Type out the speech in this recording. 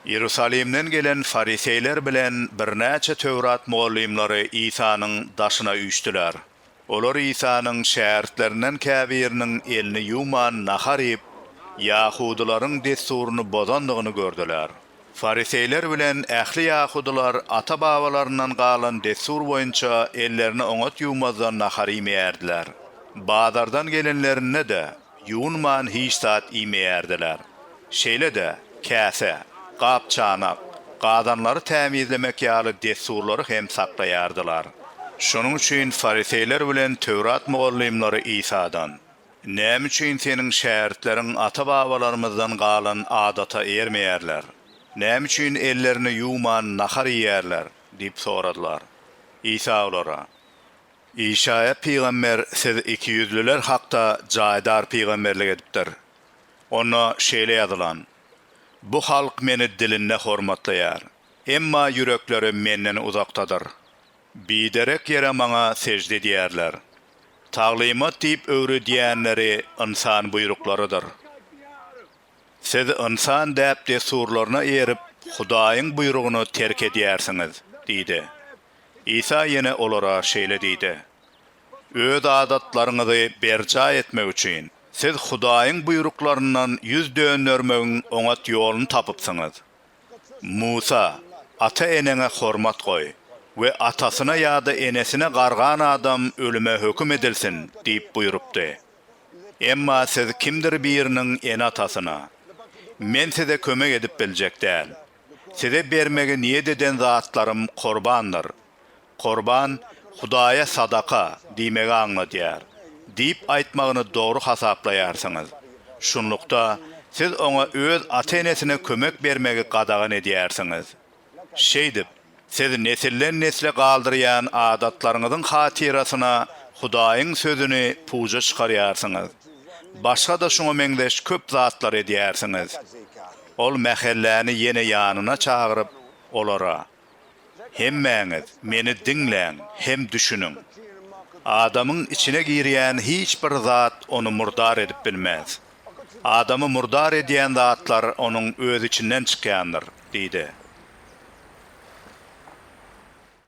Iýerusalimden gelen fariseýler bilen birnäçe Töwrat mugallymlary Isanyň daşyna üýşdüler. Olar Isanyň şägirtlerinden käbiriniň elini ýuwman nahar iýip, ýahudylaryň dessuryny bozandygyny gördüler. Fariseýler bilen ähli ýahudylar ata-babalaryndan galan dessur boýunça ellerini oňat ýuwmazdan nahar iýmeýärdiler. Bazardan gelenlerinde-de, Ýuwunman hiç zat iýmeýärdiler. Şeýle-de, käse, gap-çanak, gazanlary tämizlemek ýaly dessurlary hem saklaýardylar. Şonuň üçin fariseýler bilen Töwrat mugallymlary Isadan, Näme üçin Seniň şägirtleriň ata-babalarymyzdan galan adata eýermeýärler? Näme üçin ellerini ýuwman nahar iýýärler? diýip soradylar. Isa olara, Işaýa pygamber siz ikiýüzlüler hakda jaýdar pygamberlik edipdir. Onda şeýle ýazylan, Bu halk Meni dilinde hormatlaýar, emma ýürekleri Menden uzakdadyr. Biderek ýere Maňa sežde edýärler. Taglymat diýip öwredýänleri ynsan buýruklarydyr. Siz ynsan däp-dessurlaryna eýerip, Hudaýyň buýrugyny terk edýärsiňiz diýdi. Isa ýene olara şeýle diýdi, Öz adatlaryňyzy berjaý etmek üçin, siz Hudaýyň buýruklaryndan ýüz döndermegiň oňat ýoluny tapypsyňyz. Musa, Ata-eneňe hormat goý we atasyna ýa-da enesine gargan adam ölüme höküm edilsin diýip buýrupdy. Emma siz kimdir biriniň ene-atasyna, Men size kömek edip biljek däl. Size bermegi niýet eden zatlarym korbandyr. Korban, Hudaýa sadaka diýmegi aňladýar, diýip aýtmagyny dogry hasaplaýarsyňyz. Şunlukda, siz oňa öz ata-enesine kömek bermegi gadagan edýärsiňiz. Şeýdip, siz nesilden-nesle galdyrýan adatlaryňyzyň hatyrasyna Hudaýyň Sözüni puja çykarýarsyňyz. Başga-da şuňa meňzeş köp zatlar edýärsiňiz. Ol mähelläni ýene ýanyna çagyryp, olara, Hemmäňiz meni diňläň hem düşüniň. Adamyň içine girýän hiç bir zat ony murdar edip bilmez. Adamy murdar edýän zatlar onuň öz içinden çykýandyr, diýdi.